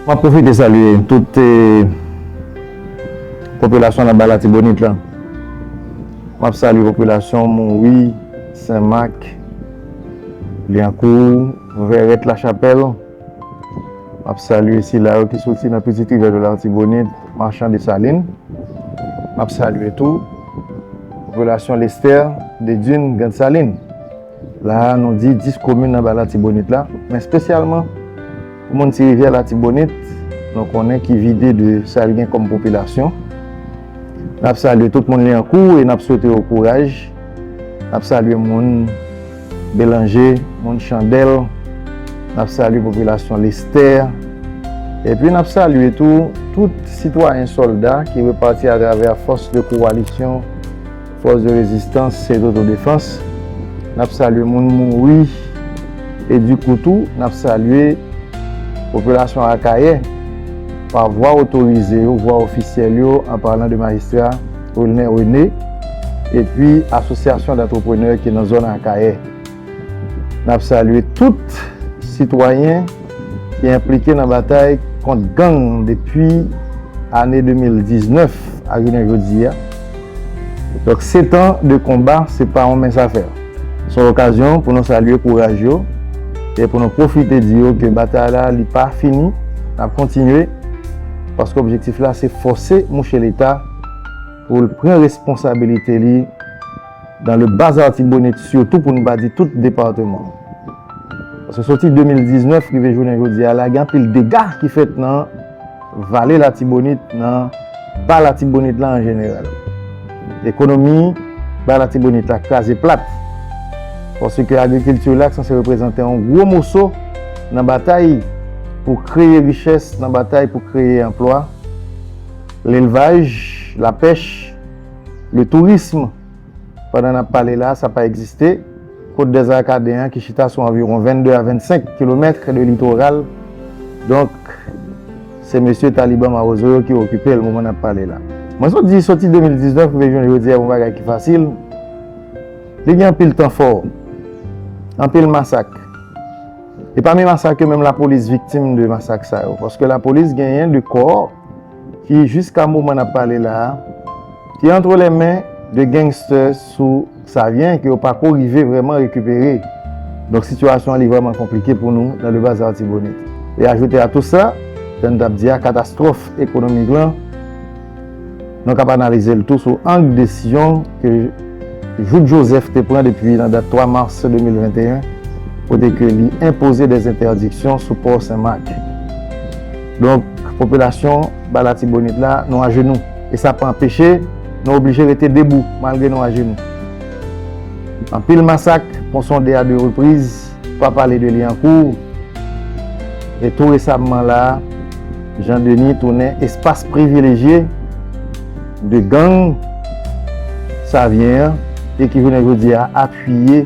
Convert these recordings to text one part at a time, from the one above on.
Mwen pwofite salye tout popilasyon nan ba latibonit la. Mwen salye popilasyon mouwi, senmak, lyankou. Vèrèt Lachapèl, M ap salye sila yo ki soti nan Pitit Rivyè dlo Latibonit, Machan Desalin. M ap salye tou popilasyon Lestè, Dedin, Grand Salin. La a nou di 10 komin anba Latibonit la, men espesyalman pou moun Ti Rivyè Latibonit nou konnen ki vide de sa l gen kòm popilasyon. N ap salye tout moun Lyankou e n ap swete yo kouraj. N ap salye moun. Belanje, moun Chandèl, n ap salye popilasyon Lestè, epi n ap salye tou tout sitwayen sòlda ki repati atravè fòs de kowalisyon, fòs de rezistans e dotodefans. N ap salye moun mouri e di kou tou n ap salye popilasyon Akayè pa vwa otorize yo, vwa ofisyèl yo, an palan de majistra. Wilner René, epi asosyasyon d'antreprenè ki nan zòn Akayè. N ap salye tout sitwayen ki enplike nan batay kont gang depi ane 2019 ak jounen jodi a. Donk setan de konba se pa yon mens afè. Se yon okazyon pou nou salye kouraj yo e pou nou pwofite di yo ke batay la li pa fini, n ap kontinye paske objektif la se fòse mouche Leta, pou l pran responsabilite li dan le bas artibonit sitou pou n pa di tout depateman paske soti 2019 rive jounen jodi a la gen anpil dega ki fèt nan vale latibonit nan ba latibonit la an jeneral ekonomi ba latibonit la kraze plat paske agrikilti la ki sanse reprezante yon gwo moso nan batay pou kreye richès nan batay pou kreye anplwa. Lelvaj, lapèch, le tourism, pandan n ap pale la a, sa pa egziste. Kot dèzè Akaden an ki chita sou anviwon 22 a 25 kilomètre de litoral, donk se mesye Taliban mawozo yo ki okipe l moman n ap pale la. Mwen sot di soti 2019 rive jounen jodi a yon bagay ki fasil, li gen anpil tan fò, anpil masak. E pami masak yo menm lapolis viktim de masak sa yo, paske lapolis genyen de kò. ki jiska moman nap pale la a te antre lè men 2 gangstè sou Savyen ke yo pako rive vrèman rekipere. Donk sitiyasyon an li vrèman konplike pou nou nan Le Bazar Artibonite. E ajoute a tou sa, jan n tap di a katastwòf ekonomik lan nou kap analize l tou sou ang desizyon ke Jout Joseph te pran depi nan dat 3 mars 2021 kote ke li enpoze dè entèdiksyon sou pò Sen Mak. Donk, popilasyon Ba Latibonit la, nou ajenou. E sa pa anpeche nou oblije rete debou malgre nou ajenou. Anpil masak, Pon Sonde a de repriz, pa pale de Lyankou, e tou resamman la, Jan Deni tounen espas privilejye de gang Savyen an e ki jounen jodi a apiye.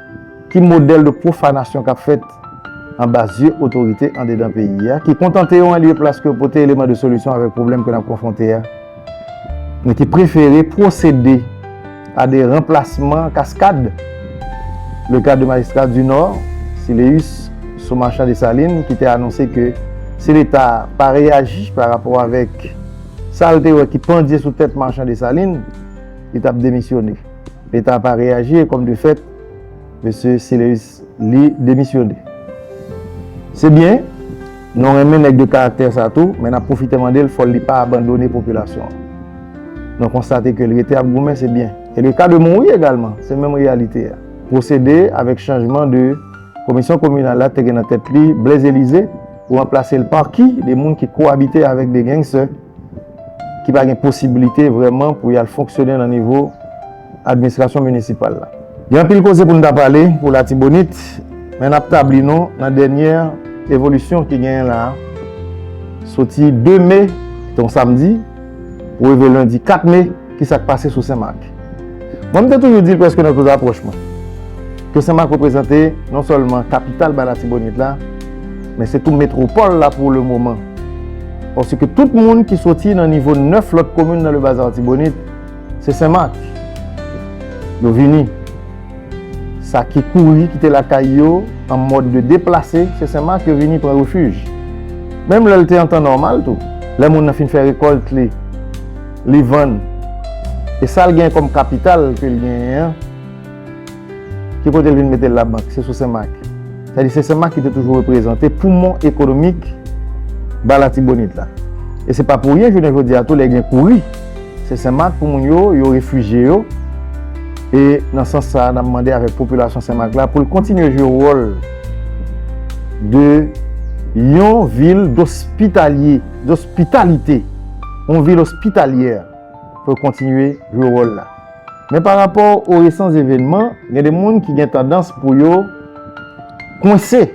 Ki modèl de pwofanasyon kap fèt anba zye otorite andedan peyi a ki kontante yo anlye plas ke pote eleman de solisyon avèk pwoblèm ke nap konfwonte a, men ki prefere pwosede a de ranplasman kaskad, le ka de Magistrat du Nord, Siléus, sou Marchand Dessalines ki te anonse ke si leta pa reyaji pa rapò avèk sa l te wè ki pandye sou tèt Marchand Dessalines, li tap demisyone. Leta pa reyaji e kòm de fèt, Mesye Celeus Lee demisyone. Se byen, nou renmen nèg de karaktè sa tou, men nap pwofite mande l fò li pa abandone popilasyon an. Nou konstate ke l rete ap goumen se byen. E le ka de mouri egalman, se menm reyalite a. Pwosede avèk chanjman de komisyon kominal la te gen nan tèt li Blaise Elysée pou ranplase l par ki de moun ki koabite avèk de gengsè. ki pa gen posibilite vrèman pou y al fonksyone nan nivo administrasyon minisipal la. Gen anpil koze pou n ta pale pou Latibonit, men n ap tabli nou nan dènyè evolisyon ki genyen la a. Soti 2 me, ki te yon samdi, pou rive lendi 4 me, ki sa k pase sou Sen Mak. Mwen m te toujou di l prèske nan tout apwòch mwen, ke Sen Mak reprezante non sèlman kapital ba Latibonit la, men se tou metwopòl la pou le moman. Paske tout moun ki soti nan nivo 9 lòt komin nan Lebaz Artibonit, se Sen Mak yo vini. Sa ki kouri kite lakay yo an mòd de deplase, se Sen Mak yo vini pran refij. Menm lè l te an tan nòmal tou, lè moun nan fin fè rekòlt li, Li vann. E sa l gen kòm kapital ke l genyen an, ki kote l vin mete l labank? Se sou Senmak. Sa vle di se Senmak ki te toujou reprezante poumon ekonomik Ba Latibonit la. E se pa pou ryen jounen jodi a tou lè gen kouri, se Senmak pou moun yo, yo refijye yo. E nan sans sa a, n ap mande avèk popilasyon Senmak la pou l kontinye jwe wòl de yon vil dospitalye, dospitalite. yon vil ospitalyè pou yo kontinye jwe wòl la. Men pa rapò o resan zevenman, gen de moun ki gen tandans pou yo kwense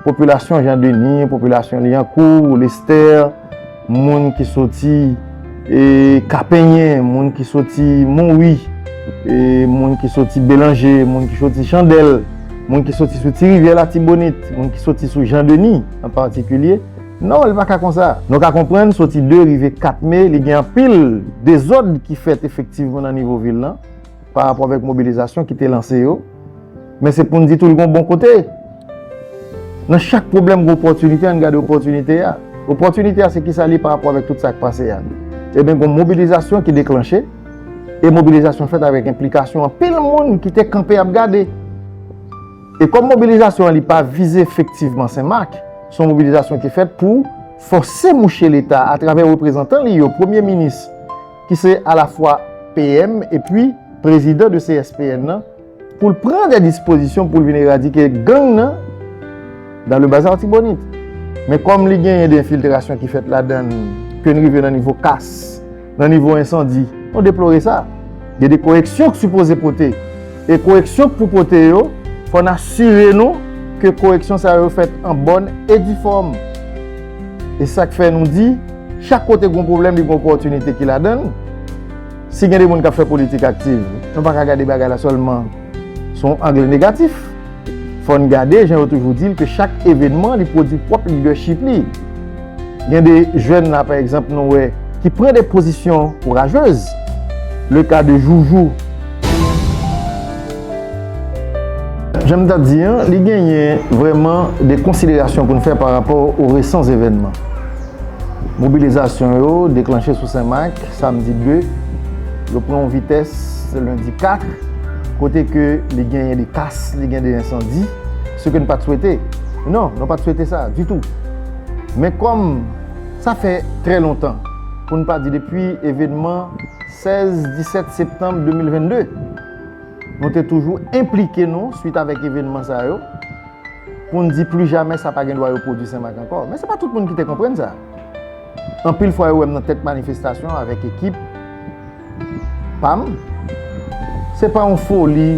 popilasyon Jean Denis, popilasyon Liancourt, Lestè, moun ki soti Kapenyen, moun ki soti Monwi, moun ki soti Belanje, moun ki soti Chandèl, moun ki soti sou Ti Rivyè Latibonit, moun ki soti sou Jean Denis an patikilye. Non, li pa ka konsa. Nou ka konprann soti 2 rive 4 me, li gen anpil dezòd ki fèt efektivman nan nivo vil lan, pa rapò avèk mobilizasyon ki te lanse yo, men se pou n di tou li gen yon bon kote. Nan chak pwoblèm gen opòtinite, an n gade opòtinite a. Opòtinite a se kisa li ye pa rapò avèk tout sa k pase a? Eben gen yon mobilizasyon ki deklanche, e mobilizasyon fèt avèk enplikasyon anpil moun ki te kanpe ap gade. E kòm mobilizasyon an li pa vize efektivman Sen Mak, se yon mobilizasyon ki fèt pou fòse mouche Leta atravè reprezantan li yo, Premye Minis ki se alafwa PM epi Prezidan de CSPN nan, pou l pran dè dispozisyon pou l vin eradike gang nan dan le Bas Artibonite. Men kòm li genyen dè enfiltrasyon ki fèt ladan l ke n rive nan nivo kas, nan nivo ensandi. Nou deplore sa. Gen de koreksyon k sipoze pote. E koreksyon k pou pote yo, fò n asire nou ke koreksyon sa yo fèt an bòn e di fòm. E sa k fè nou di, chak kote gen yon pwoblèm li gen yon opòtinite ki ladan l. Si gen de moun k ap fè politik aktiv, nou pa ka gade bagay la sèlman sou yon angle negatif. Fò n gade jan yo toujou di l ke chak evènman li pwodui pwòp lidèchip li. Gen de jèn la pa egzanp nou wè ki pran de pozisyon kourajez. Le ka de Joujou. Jan m ta di an, li genyen vrèman de konsiderasyon pou n fè pa rapò o resan zevènman. Mobilizasyon yo deklanche sou Senmak samdi 2, yo pran yon vitès lendi 4, kote ke li genyen de kas, li gen de ensandi, se ke n pat swete. Non, nou pat swete sa ditou. Men kòm sa fè trè lontan, pou n pa di depi evenman 16, 17 septanm 2022, nou te toujou enplike nou swit avèk evenman sa yo, pou n di pli jamè sa pa gen dwa repwodui Senmak ankò. Men se pa tout moun ki te konprann sa. Anpil fwa yo wè m nan tèt manifestasyon an avèk ekip pa m. Se pa yon foli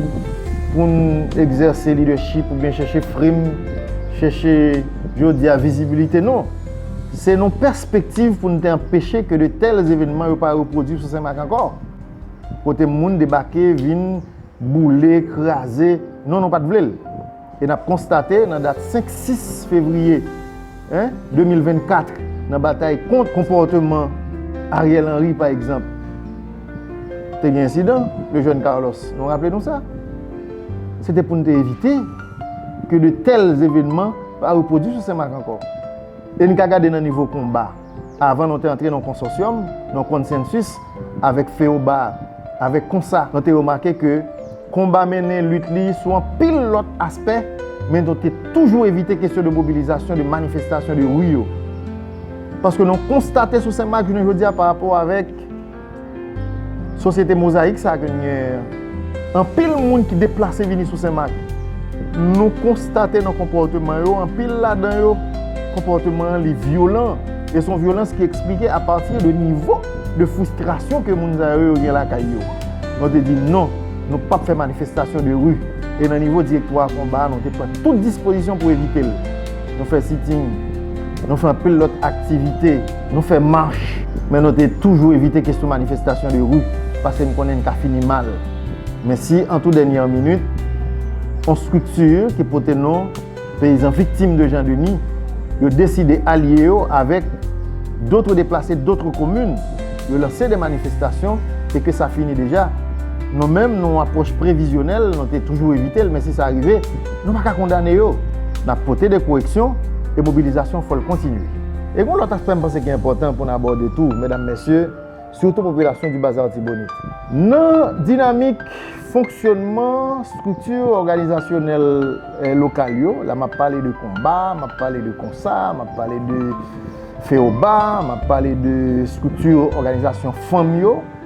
pou n egzèse lidèchip oubyen chèche frim, chèche jodi a vizibilite non. Se nan pèspektiv pou n te anpeche ke de tèl evenman yo pa repwodui sou Senmak ankò. Kote moun debake vin. boule, kraze, non nou pa t vle l. E n ap konstate nan dat 5, 6 fevriye 2024, nan batay kont konpòteman Ariel Henry pa egzanp, te gen ensidan, le jeune Carlos, nou raple nou sa? Se te pou n te evite ke de tèl evenman pa repwodui sou Senmak ankò. E n ka gade nan nivo konba. Avan nou te antre nan konsòsyòm, nan konsensis, avèk FEOBA, avèk konsa, nou te remake ke Konba mennen lit li sou anpil lòt aspè, men nou te toujou evite kesyon de mobilizasyon, de manifestasyon de ri yo. Paske nou konstate sou Senmak jounen jodi a parapò avèk. Sosyete Mozayik sa ke nou genyen an, anpil moun ki deplase vini sou Senmak, nou konstate nan konpòteman yo, anpil ladan yo, konpòteman an li vyolan. E son vyolans ki eksplike apati de nivo de fristrasyon ke moun sa yo yo gen lakay yo. Nou te di non, nou pap fè manifestasyon de ri. E nan nivo direktwa konba a, nou te pran tout dispozisyon pou evite l. Nou fè sitting, nou fè anpil lòt aktivite, nou fè mach, men nou te toujou evite kesyon manifestasyon de ri paske n konnen n ka fini mal. Men si an tou dènyè minit, yon strikti ki pote non Peyizan Viktim de Jan Deni, yo deside alye yo avèk dotre deplase dotre komin, yo lanse de manifestasyon e ke sa fini deja, nou menm nou yon apwòch previzyonèl, nou te toujou evite l men si sa rive, Nou pa ka kondane yo. N ap pote de koreksyon e mobilizasyon fò l kontinye. E gen yon lòt aspè m panse ki enpòtan pou n abòde tou, medam, mesye, sitou popilasyon di Baz Artibonite. Nan dinamik fonksyònman estrikti òganizasyonèl lokal yo, la m ap pale de konba, m ap pale de konsa, m ap pale de feoba, m ap pale de estrikti òganizasyon fanm yo,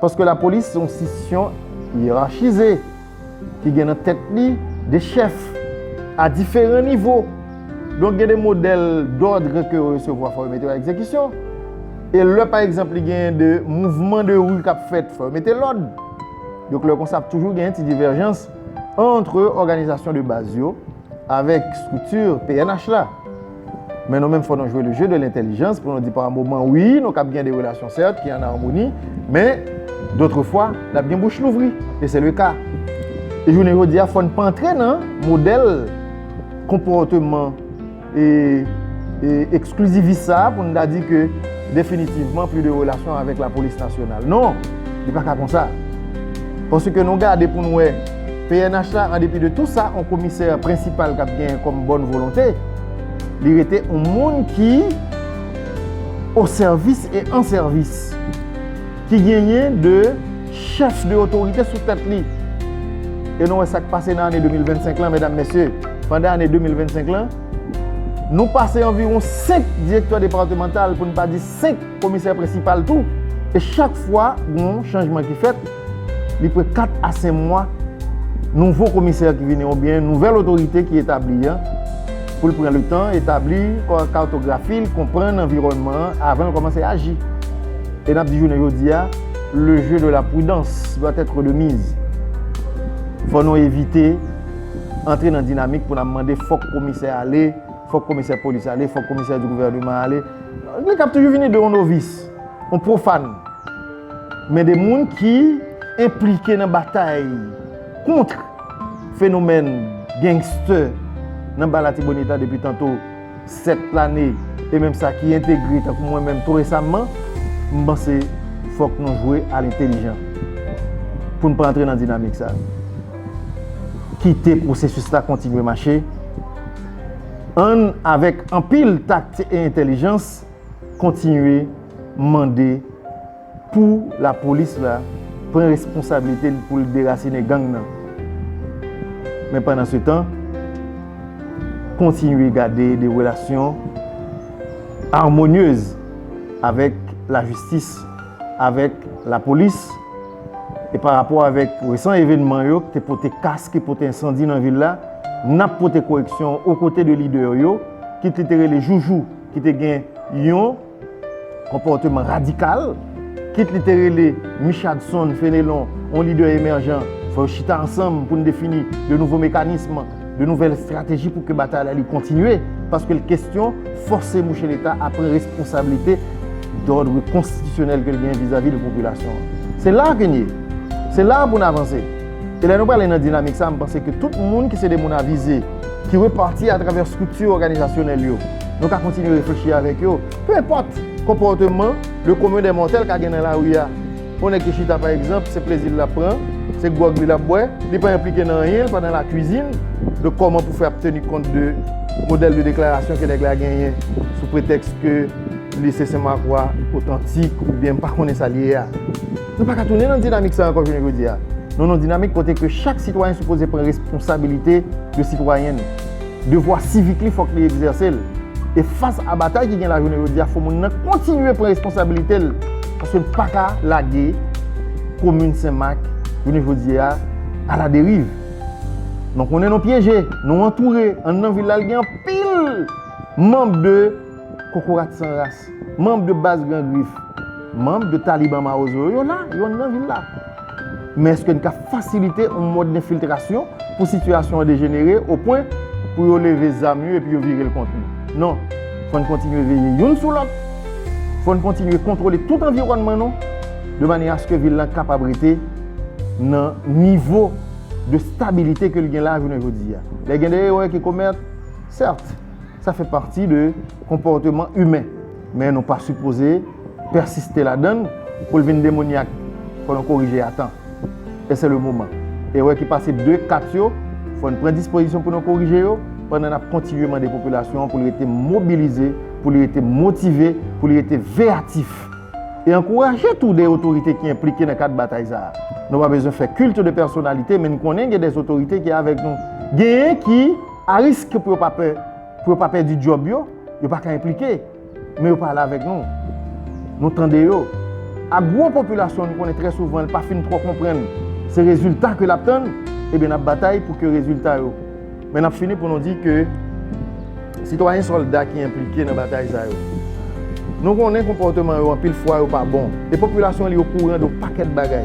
Paske lapolis se yon stisyon yerachize ki gen nan tèt li de chèf a diferan nivo. Donk gen de modèl dòdre ke yo resevwa fò yo mete yo a egzekisyon. E lè pa egzanp li gen de mouvman de ri k ap fèt fò yo mete lòd. Donk lè konsa ap toujou gen ti divèjans antre òganizasyon de baz yo avèk estrikti pnh la. Men nou menm fò nou jwe le jeu de l'intelligence pou nou di pa moman wi nou kab gen de relasyon sèt ki an armoni men dotre fwa nap gen bouch louvri e se le ka e jounen jodi a fò n pa antre nan modèl konpòteman e eksklizivist sa pou n ta di ke definitivman pli de relasyon avèk la polis nasyonal non li pa ka konsa paske nou gade pou n wè. Pnh la an depi de tou sa on komisè prensipal kap gen kòm bòn volonte li rete on moun ki o sèvis e an sèvis ki genyen de chèf de otorite sou tèt li e nou wè sak pase nan ane 2025 lan medam mesye pandan ane 2025 lan nou pase anviron 5 direktè departemantal poun pa di 5 komisè prensipal tou e chak fwa gon chanjman ki fèt. Li pran 4 a 5 mwa nouvo komisè ki vini ou byen nouvèl otorite ki etabli an pou l pran le tan etabli kartografi l, konprann anviwònman an avan l kòmanse aji. E n ap di jounen jodi a, le jeu de la prudence doit être de mise. Fò nou evite antre nan dinamik pou n ap mande fòk komisè ale, fòk komisè polis ale, fòk komisè di gouvèneman ale. Li kab toujou vini de yon novis, yon profane. Men de moun ki enplike nan batay kontr fenomèn gangster nan ba Latibonit a depi tanto 7 lane e menm sa ki entegre tankou mwen menm tou resamman, m panse fòk nou jwe a lentelijan pou n pa antre nan dinamik sa. Kite pwosesis la kontinye mache, ann avèk anpil takti e entelijans. kontinye mande pou la polis la pran responsabilite l pou l derasine gang nan men pandan se tan kontinye gade de relasyon armonyez avèk la jistis avèk la polis e pa rapò avèk resan evenman yo ki te pote kas ki pote ensandi nan vil la nap pote koreksyon okote de lidè yo kit li te rele joujou. ki te gen yon konpòteman radikal, kit li te rele Michadson, Fenelon, yon lidè emèjan, fò yo chita ansanm pou n defini de nouvo mekanism, de nouvèl estrateji pou ke batay la li kontinye, paske l kestyon fòse mouche Leta a pran responsablite dòdre konstitisyonèl ke l gen vizavi de popilasyon an. Se la ke n ye. Se la pou n avanse. E lè nou pale nan dinamik sa, m panse ke tout moun ki se de moun avize, ki repati atravè estrikti òganizasyonèl yo, nou ka kontinye reflechi avèk yo, pe enpòt konpòteman le commun des mortels ka gen nan lari a. Yon nèg ki chita pa egzanp, se plezi l l ap pran, se gwòg li l ap bwè, li pa enplike nan anyen, l pa nan lakwizin de kòman pou fè ap teni kont de modèl de deklarasyon ke nèg la genyen sou pretèks ke li se senmakwa otantik oubyen m pa konnen sa l ye a. Nou pa ka tounen nan dinamik sa ankò jounen jodi a. Nou nan dinamik kote ke chak sitwayen sipoze pran responsabilite de sitwayen li. Devwa sivik li fòk li egzèse l. E fas a batay ki gen la jounen jodi a fò moun nan kontinye pran responsabilite l paske n pa ka lage komin Sen Mak jounen jodi a aladeriv. Nou konnen nou pyeje, nou antoure, anndan vil la li gen anpil manb de. Kokorat san ras, manb de baz gran grif, manb de taliban mawozo yo, yo la, yo nan vil la. Men eske n ka fasilite yon mòd denfiltrasyon pou sitiyasyon an dejenere o pwen pou yo leve zam yo epi yo vire l kont nou? Non. Fò n kontinye veye youn sou lòt, fò n kontinye kontwole tout anviwònman nou de manyè aske vil lan kapab rete nan nivo de stabilite ke l gen la jounen jodi a. Lè gen de erè ki komèt, sèt. Sa fè pati de konpòteman imen, men nou pa sipoze pèsiste ladan l pou l vin demonyak. Fò nou korije atan. E se le moman. Erè ki pase de kat yo, fò n pran dispozisyon pou nou korije yo, pandan n ap kontinye mande popilasyon an pou li rete mobilize, pou li rete motive, pou li rete veyatif. E ankouraje tou de otorite ki enplike nan kad batay sa a. Nou pa bezwen fè culte de personnalité, men n konnen gen dè otorite ki avèk nou. Genyen ki. A risk pou yo pa pè, pou yo pa pèdi djòb yo, yo pa ka enplike, men yo pale avèk nou. Nou tande yo. A gwo popilasyon nou konnen trè souvan li pa fin twò konprann se rezilta ke l ap tann, ebyen n ap batay pou ke rezilta yo. Men n ap fini pou nou di ke sitwayen sòlda ki enplike nan batay sa yo, nou konnen konpòteman yo anpil fwa yo pa bon e popilasyon li okouran de yon pakèt bagay.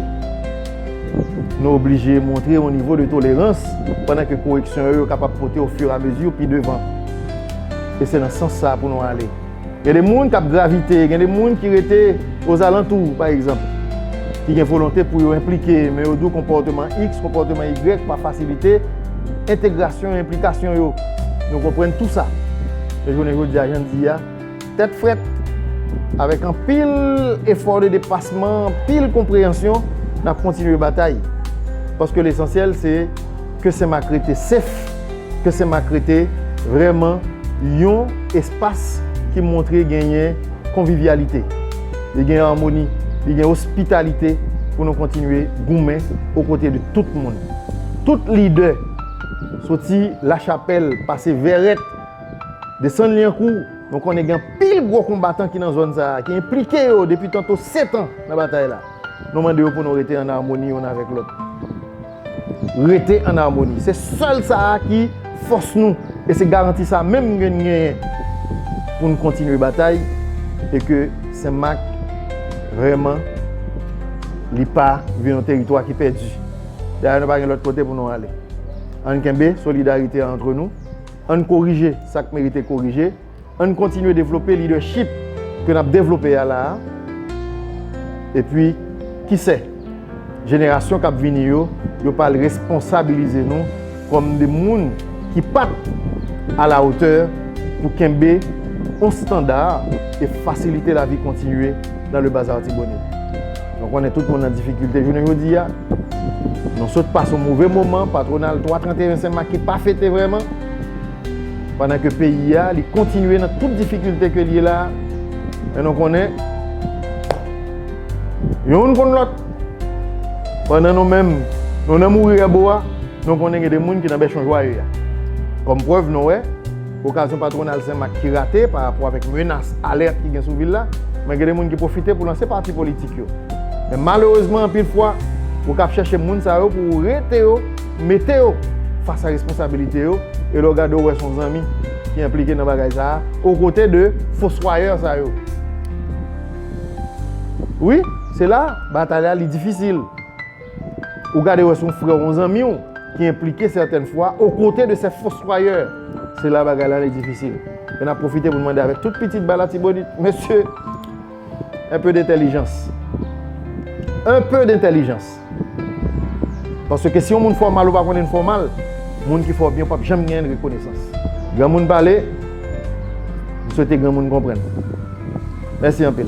Nou oblije montre yon nivo de tolerans pandan ke koreksyon yo yo kapab pote ofiramezi pi devan. E se nan sans sa a pou nou ale. Gen de moun kap gravite, gen de moun ki rete ozalantou, pa egzanp, ki gen volonte pou yo enplike, men yo di w konpòteman iks, konpòteman igrèk pa fasilite entegrasyon e enplikasyon yo. Nou konprann tou sa. Men jounen jodi a, jan n di a. Tèt frèt, avèk anpil efò de depasman, anpil konpreyansyon, n ap kontinye batay. Paske lesansyèl se ke Senmak rete sef, ke Senmak rete vrèman yon espas ki montre genyen konvivyalite, li gen amoni, li gen ospitalite pou nou kontinye goumen okote de tout moun. Tout lidè, soti Lachapèl, pase Vèrèt, Desann Lyankou, nou konnen gen anpil gwo konbatan ki nan zòn sa a, ki enplike yo depi tanto setan nan batay la. Nou mande yo pou nou rete ann amoni youn avèk lòt. Rete ann amoni. Se sèl sa a ki fòs nou e se garanti sa a menm gen n genyen pou n kontinye batay e ke Senmak vrèman li pa vin yon teritwa ki pèdi. Dayè nou pa gen lòt kote pou nou ale. Ann kenbe solidarite a antre nou. Ann korije sa k merite korije, ann kontinye devlope lidèchip ke n ap devlope a la a, epi kisè, jenerasyon k ap vini yo, yo pa al responsabilize nou kòm de moun ki pa t alawotè pou kenbe yon standa e fasilite lavi kontinye. Dans le Bazar Artibonite. Nou konnen tout moun an difikilte jounen jodi a. Nou sot pase yon move moman patwonal 3 31 sen mak ki pa fete vrèman. Pandan ke peyi a li kontinye nan tout difikilte ke li ye la. Men nou konnen youn konn lòt. Pandan nou menm nou nan mouri a bo a, nou konnen gen de moun ki nan bèchon jwaye a. Kòm prèv nou wè. Okazyon patwonal Sen Mak ki rate pa rapò avèk menas alèt ki gen sou vil la, men gen de moun ki pwofite pou lanse pati politik yo. Men malerezman anpil fwa, ou kab chèche moun sa yo pou ou rete yo, mete yo fas a responsabilite yo, e lè w gade ou wè se yon zanmi ki enplike nan bagay sa a, okote de foswayè sa yo. Wi, se la batay la li difisil. Ou gade wè se yon frè w, yon zanmi w ki enplike sètèn fwa o kote de sè foswayè, se la bagay la li difisil. E n ap pwofite pou n mande avèk tout pitit ba latibonit, mesye, en peu dentèlijans. En peu dentèlijans. Paske si yon moun fè w mal ou pa konnen l fè w mal, moun ki fè w byen ou p ap janm genyen rekonesans. Granmoun pale, m swete granmoun konprann. Mèsi anpil.